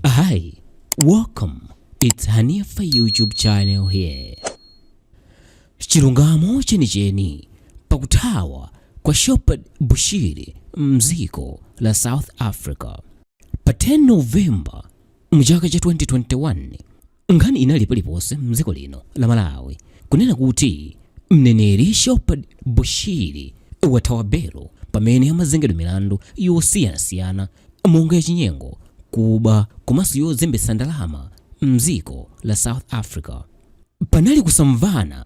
Hi, welcome. It's Hanifa YouTube channel here. Chilungamo chenicheni pakuthawa kwa Shepherd Bushiri mdziko la South Africa pa 10 November mchaka cha 2021 nkhani inali paliponse mdziko lino la malawi kunena kuti mneneri shepherd bushiri wathawa belo pamene amazengedwa milandu yosiyanasiyana monga yachinyengo kuba komanso yozembetsa ndalama mdziko la south africa panali kusamvana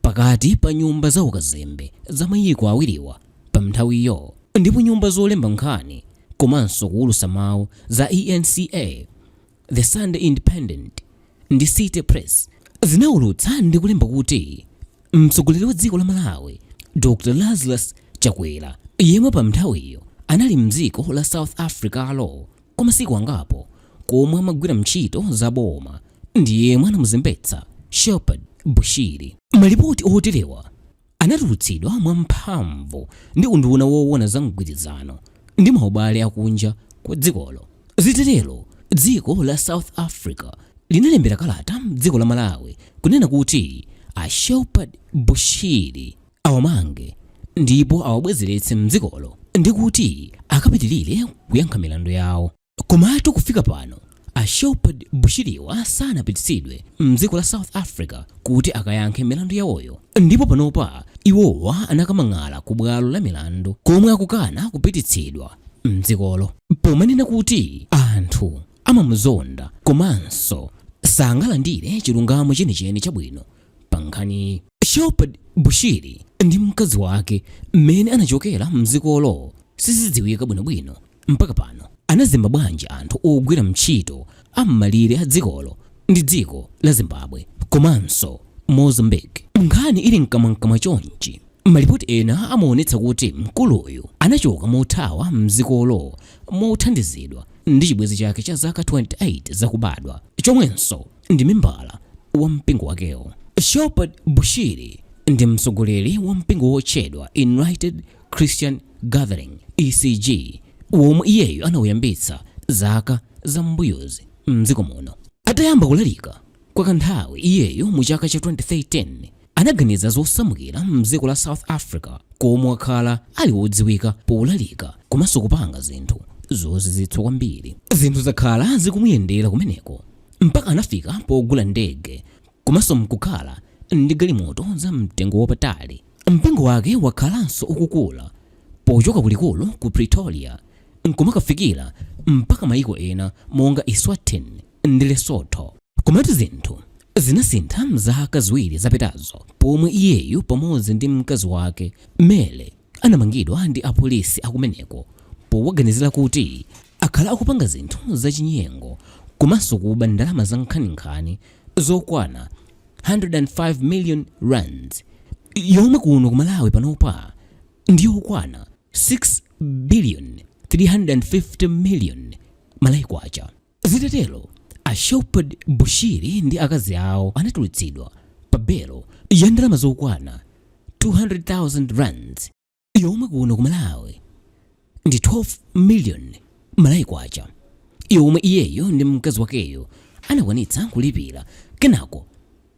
pakati pa nyumba za ukazembe za mayiko awiriwa pa mnthawiyo ndipo nyumba zolemba nkhani komanso kuwulutsa mawu za enca The Sunday Independent ndi City Press zinaulutsa ndi kulemba kuti mtsogoleri wa dziko la Malawi Dr. Lazarus Chakwera yemwe pa mnthawiyo anali mdziko la South Africalo kwa masiku angapo komwe amagwira mntchito za boma ndi yemwe anamuzembetsa Shepherd Bushiri. Malipoti oterewa anatulutsidwa mwamphamvu ndi unduna woona za mgwirizano ndi maubale akunja kwa dzikolo. Zitatero, dziko la South Africa linalembera kalata dziko la Malawi kunena kuti a Shepherd Bushiri awamange ndipo awabwezeretse m'dzikolo ndi kuti akapitirire kuyankha milandu yawo. Komatu kufika pano a Shepherd Bushiriwa sanapititsidwe mdziko la South Africa kuti akayankhe milandu yawoyo ndipo panopa iwowa anakamang'ala ku bwalo la milandu komwe akukana kupititsidwa mdzikolo pomanena kuti anthu amamuzonda komanso sangalandire chilungamo chenicheni chabwino pa nkhani. Shepherd Bushiri ndi mkazi wake mmene anachokera mdzikolo sizidziwika bwinobwino. Mpaka pano anazemba bwanji anthu ogwira mtchito a m'malire a dzikolo ndi dziko la Zimbabwe komanso Mozambique? Nkhani ili mkamwamkamwa chonchi, malipoti ena amaonetsa kuti mkuluyu anachoka mothawa mdzikolo mothandizidwa ndi chibwenzi chake cha zaka 28 zakubadwa chomwenso ndi membala wa mpingo wakewo. Shepherd Bushiri ndi mtsogoleri wa mpingo wotchedwa Enlightened Christian Gathering ECG womwe iyeyo anauyambitsa zaka za m'mbuyozi mdziko muno. Atayamba kulalika kwa kanthawi, iyeyo mu chaka cha 2013 anaganiza zosamukira mdziko la South Africa komwe wakhala ali wodziwika polalika komanso kupanga zinthu zozizwitsa kwambiri. Zinthu zakhala zikumuyendera kumeneko mpaka anafika pogula ndege komanso mkukhala ndi galimoto za mtengo wapatali. Mpingo wake wakhalanso ukukula pochoka ku likulu ku Pretoria nkumakafikira mpaka maiko ena monga Eswatini ndi Lesotho. Komatu zinthu zinasintha mzaka ziwiri zapitazo pomwe iyeyu pamodzi ndi mkazi wake Mary anamangidwa ndi apolisi akumeneko powaganizira kuti akhala akupanga zinthu zachinyengo komanso kuba ndalama zankhaninkhani zokwana 105 million rands yomwe kuno ku Malawi panopa ndi yokwana 6 billion 350 million Malawi kwacha. Zitatero, a Shepherd Bushiri ndi akazi awo anatulutsidwa pa belo ya ndalama zokwana 200,000 rands yomwe kuno ku malawi ndi 12 million malawi kwacha yomwe iyeyo ndi mkazi wakeyo anakwanitsa kulipira kenako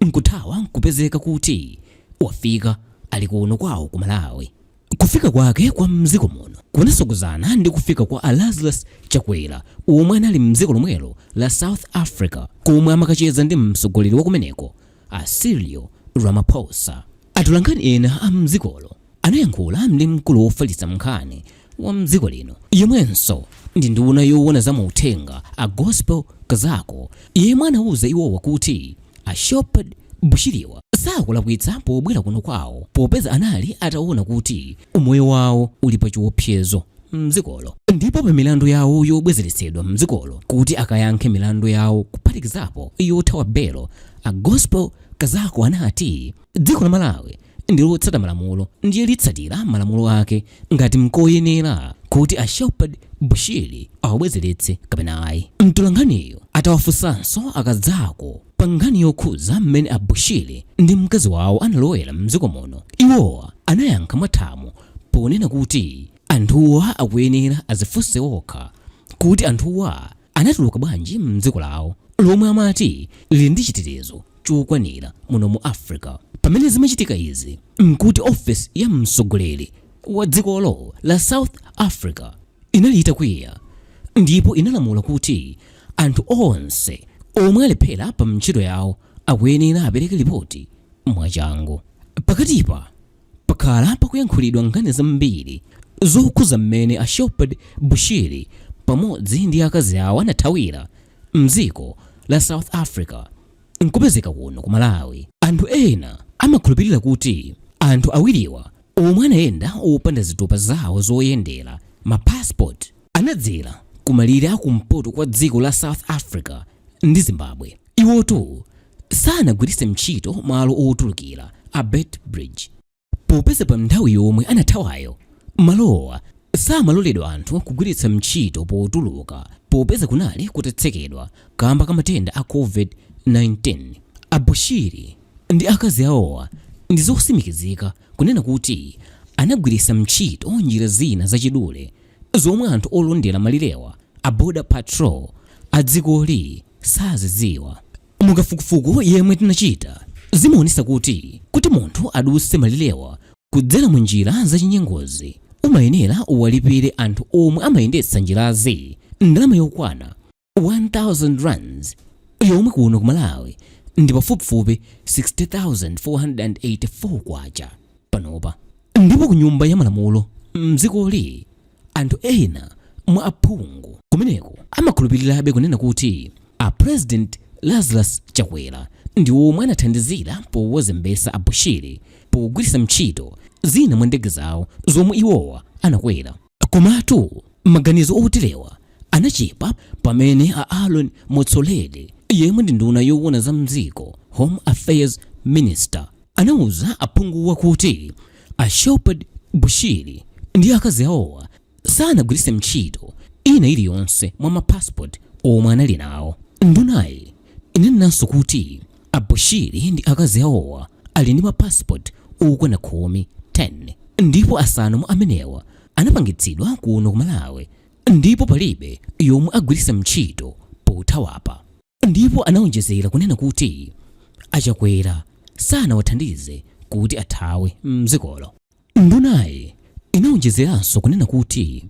nkuthawa nkupezeka kuti wafika ali kuno kwawo ku malawi kufika kwake kwa mdziko muno kunasogozana ndi kufika kwa a lazarus chakwera omwe anali mdziko lomwelo la south africa komwe amakacheza ndi mtsogoleri wakumeneko a cyril ramaphosa atolankhani ena a mdzikolo Anayankhula ndi mkulu wofalitsa nkhani wa mdziko lino yemwenso ndi nduna yowona za mauthenga a Gospel Kazako yemwe anauza iwowa kuti a Shepherd Bushiriwa sakulakwitsa pobwera kuno kwawo popeza anali atawona kuti umoyo wawo uli pa chiwopsezo mdzikolo ndipo pa milandu yawo yobwezeretsedwa mdzikolo kuti akayankhe milandu yawo kuphatikizapo yothawa belo, a Gospel Kazako anati. dziko la malawi ndilotsata malamulo ndiye litsatira malamulo ake ngati mkoyenera kuti a shepherd bushiri awabwezeretse kapena ayi mtolankhaniyo atawafunsanso a kazako pa nkhani yokhuza mmene a bushiri ndi mkazi wawo analowera mdziko muno iwowa anayankha mwathamo ponena kuti anthuwa akuyenera azifunse okha kuti anthuwa anatuluka bwanji m'dziko lawo lomwe amati lili ndi chitetezo chokwanira muno mu africa pamene zimachitika izi mkuti ofesi ya mtsogoleri wa dzikolo la south africa inali itakwiya ndipo inalamula kuti anthu onse omwe alephera pa ntchito yawo akuyenera apereke lipoti mwachangu pakatipa Pakhala pakuyankhulidwa nkhani zambiri zokhudza mmene a Shepherd Bushiri pamodzi ndi akazi awo anathawira mdziko la South Africa nkupezeka kuno ku Malawi. Anthu ena amakhulupirira kuti anthu awiriwa omwe anayenda opanda zitupa zawo zoyendera, ma passport, anadzera ku malire a kumpoto kwa dziko la South Africa ndi Zimbabwe. Iwotu sanagwiritse mtchito malo otulukira a Beitbridge popeza pa nthawi yomwe anathawayo, malowa samaloledwa anthu kugwiritsa mtchito potuluka popeza kunali kutatsekedwa kamba ka matenda a Covid-19. A Bushiri ndi akazi awowa ndi zotsimikizika kunena kuti anagwiritsa mtchito njira zina zachidule zomwe anthu olondera malirewa a Border Patrol a dzikoli sazidziwa. Mu kafukufuku yemwe tinachita, zimaonesa kuti kuti munthu aduse malirewa kudzera mu njira za chinyengozi, umayenera uwalipire anthu omwe amayendetsa njirazi ndalama yokwana 1000 rands yomwe kuno ku malawi ndi pafupifupi 60484 kwacha panopa ndipo ku nyumba ya malamulo mdzikoli anthu ena mwa aphungu kumeneko amakhulupirirabe kunena kuti a president lazarus chakwera ndi omwe anathandizira powazembetsa a bushiri pogwiritsa ntchito zina mwa ndege zawo zomwe iwowa anakwera Komatu maganizo oterewa anachepa pamene a Aaron Motsoaledi, yemwe ndi nduna yoona za m'dziko, Home Affairs Minister, anauza aphunguwa kuti a Shepherd Bushiri ndi akazi awowa sanagwiritse ntchito ina iliyonse mwa ma passport omwe anali nawo. Ndunayi inanenanso kuti A Bushiri ndi akazi awowa ali ndi ma passport okwana khumi, 10, ndipo asanu mwa amenewa anapangitsidwa kuno ku Malawi ndipo palibe yomwe agwiritsa mtchito pothawapa ndipo anaonjezera kunena kuti a Chakwera sanawathandize kuti athawe mdzikolo. Ndunayi inawonjezeranso kunena kuti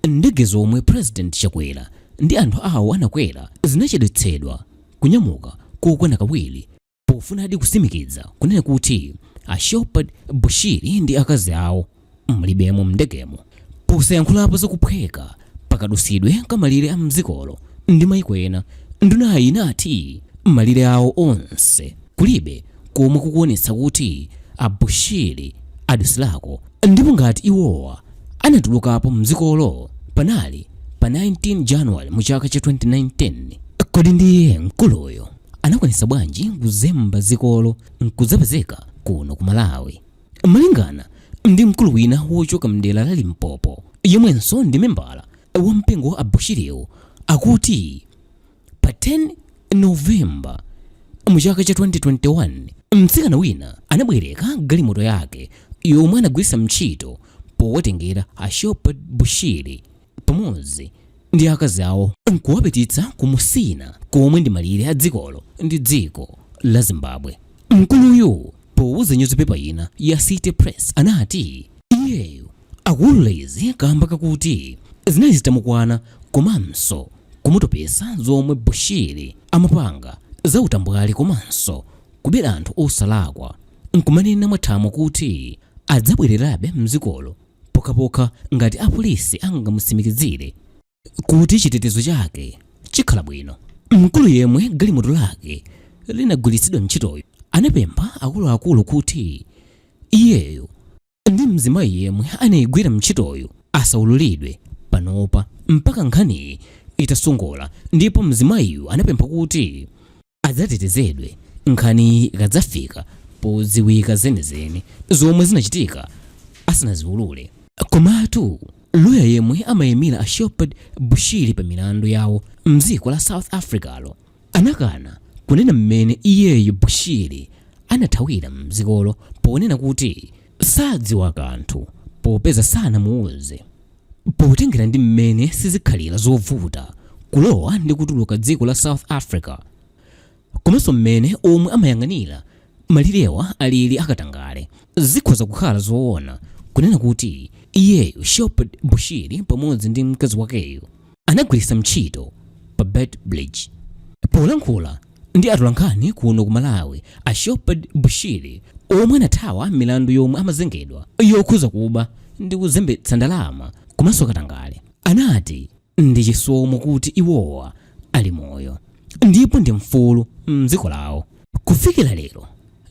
ndege zomwe President Chakwera ndi anthu awo anakwera zinachedwetsedwa kunyamuka kokwana kawiri pofunadi kutsimikiza kunena kuti a Shepherd Bushiri ndi akazi awo mulibemo m'ndegemo. Posayankhulapo za kuphweka pakadutsidwe ka malire a mdzikolo ndi maiko ena ndunayi inati malire awo onse kulibe komwe kukuonetsa kuti a bushiri adutsirako ndipo ngati iwowa anatulukapo mdzikolo panali pa 19 January mu chaka cha 2019 kodi ndiye mkuluyo anakwanisa bwanji kuzemba dzikolo nkudzapezeka kuno ku malawi Malingana ndi mkulu wina wochoka mdera la Limpopo yemwenso ndi membala wa mpingo wa a Bushiriwu akuti pa 10 November mu chaka cha 2021 mtsikana wina anabwereka galimoto yake yomwe anagwiritsa ntchito powatengera a Shepherd Bushiri pamodzi ndi akazi awo nkuwapititsa ku Musina komwe ndi malire a dzikolo ndi dziko la Zimbabwe. Mkuluyu powuza nyuzipepa ina ya City Press anati iyeyo akuulula izi kamba kakuti zinali zitamukwana komanso kumutopesa zomwe Bushiri amapanga za utambwali komanso kubera anthu osalakwa nkumanena mwathamo kuti adzabwererabe mdzikolo pokhapokha ngati apolisi angamutsimikizire kuti chitetezo chake chikhala bwino. Mkulu yemwe galimoto lake linagwiritsidwa ntchitoyu anapempha akuluakulu kuti iyeyo ndi mzimayi yemwe anayigwira ntchitoyu asaululidwe panopa mpaka nkhaniyi itasongola ndipo mzimayiyu anapempha kuti adzatetezedwe nkhaniyi ikadzafika podziwika zenizeni zomwe zinachitika asanaziulule komatu loya yemwe amayimira a shepherd bushiri pa milandu yawo mdziko la south africalo anakana kunena mmene iyeyo bushiri anathawira mdzikolo ponena kuti sadziwa kanthu popeza sanamuuze Potengera ndi mmene sizikhalira zovuta kulowa ndi kutuluka dziko la South Africa komanso mmene omwe amayang'anira malirewa alili akatangale, zikhoza kukhala zoona kunena kuti iyeyo, Shepherd Bushiri, pamodzi ndi mkazi wakeyo, anagwiritsa ntchito pa Beitbridge. Polankhula ndi atolankhani kuno ku Malawi, a Shepherd Bushiri omwe anathawa milandu yomwe amazengedwa yokhuza kuba ndi kuzembetsa ndalama komanso katangale, anati ndi chisomo kuti iwowa ali moyo ndipo ndi mfulu m'dziko lawo. Kufikira lero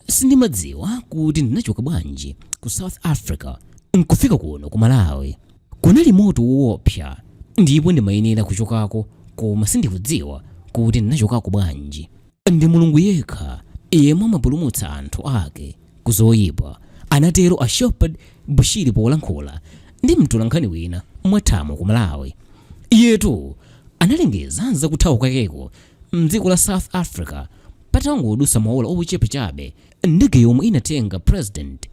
sindimadziwa kuti ndinachoka bwanji ku South Africa n'kufika kuno ku Malawi. Kunali moto woopsa ndipo ndimayenera kuchokako koma sindikudziwa kuti ndinachokako bwanji. Ndi Mulungu yekha yemwe amapulumutsa anthu ake ku zoipa, anatero a Shepherd Bushiri polankhula ndi mtolankhani wina mwathamo ku Malawi. Iyetu analengeza za kuthawa kwakeko m'dziko la South Africa patangodutsa maola ochepa chabe ndege yomwe inatenga President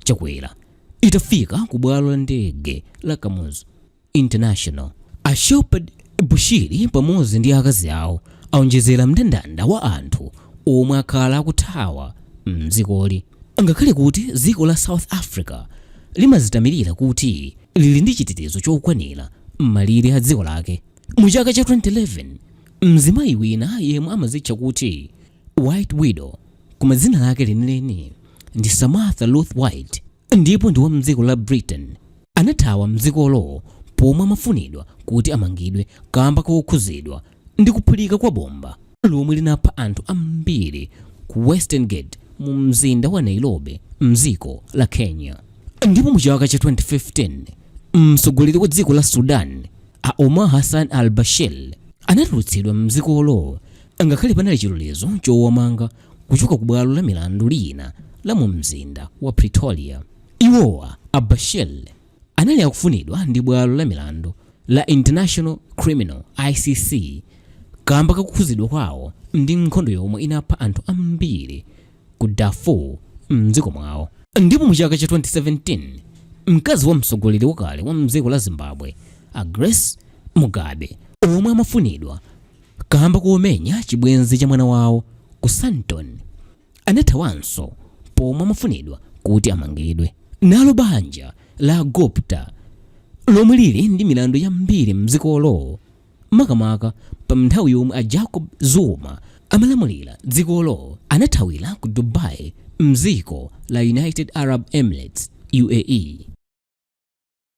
Chakwera. itafika ku bwalo la ndege la kamuzu international a shepherd bushiri pamodzi ndi akazi awo aonjezera mndandanda wa anthu omwe akhala akuthawa mdzikoli ngakhale kuti dziko la south africa limazitamirira kuti lili ndi chitetezo chokwanira m'malire a dziko lake mu chaka cha 2011 mzimayi wina yemwe amazitcha kuti White Widow, koma dzina lake lenileni ndi Samantha Lewthwaite ndipo ndi wa mdziko la Britain. Anathawa mdzikolo pomwe amafunidwa kuti amangidwe kamba kokhuzidwa ndi kuphulika kwa bomba lomwe linapha anthu ambiri ku Western Gate mu mzinda wa Nairobi mdziko la Kenya. Ndipo mu chaka cha 2015, mtsogoleri wa dziko la Sudan, a Omar Hassan al-Bashir, anatulutsidwa mdzikolo Ngakhale panali chilolezo chowamanga kuchoka ku bwalo la milandu lina la mu mzinda wa Pretoria, iwowa a Bashir anali akufunidwa ndi bwalo la milandu la International Criminal, ICC, kamba ka kukhuzidwa kwawo ndi nkhondo yomwe inapha anthu ambiri ku Darfur mdziko mwawo. Ndipo mu chaka cha 2017, mkazi wa mtsogoleri wakale wa mdziko la Zimbabwe a Grace Mugabe omwe amafunidwa Kaamba komenya chibwenzi cha mwana wawo ku Sandton, anathawanso pomwe amafunidwa kuti amangidwe. Nalo banja la Gupta, lomwe lili ndi milandu yambiri m'dzikolo, makamaka pamnthawi yomwe a Jacob Zuma amalamulira dzikolo, anathawira ku Dubai m'dziko la United Arab Emirates, UAE.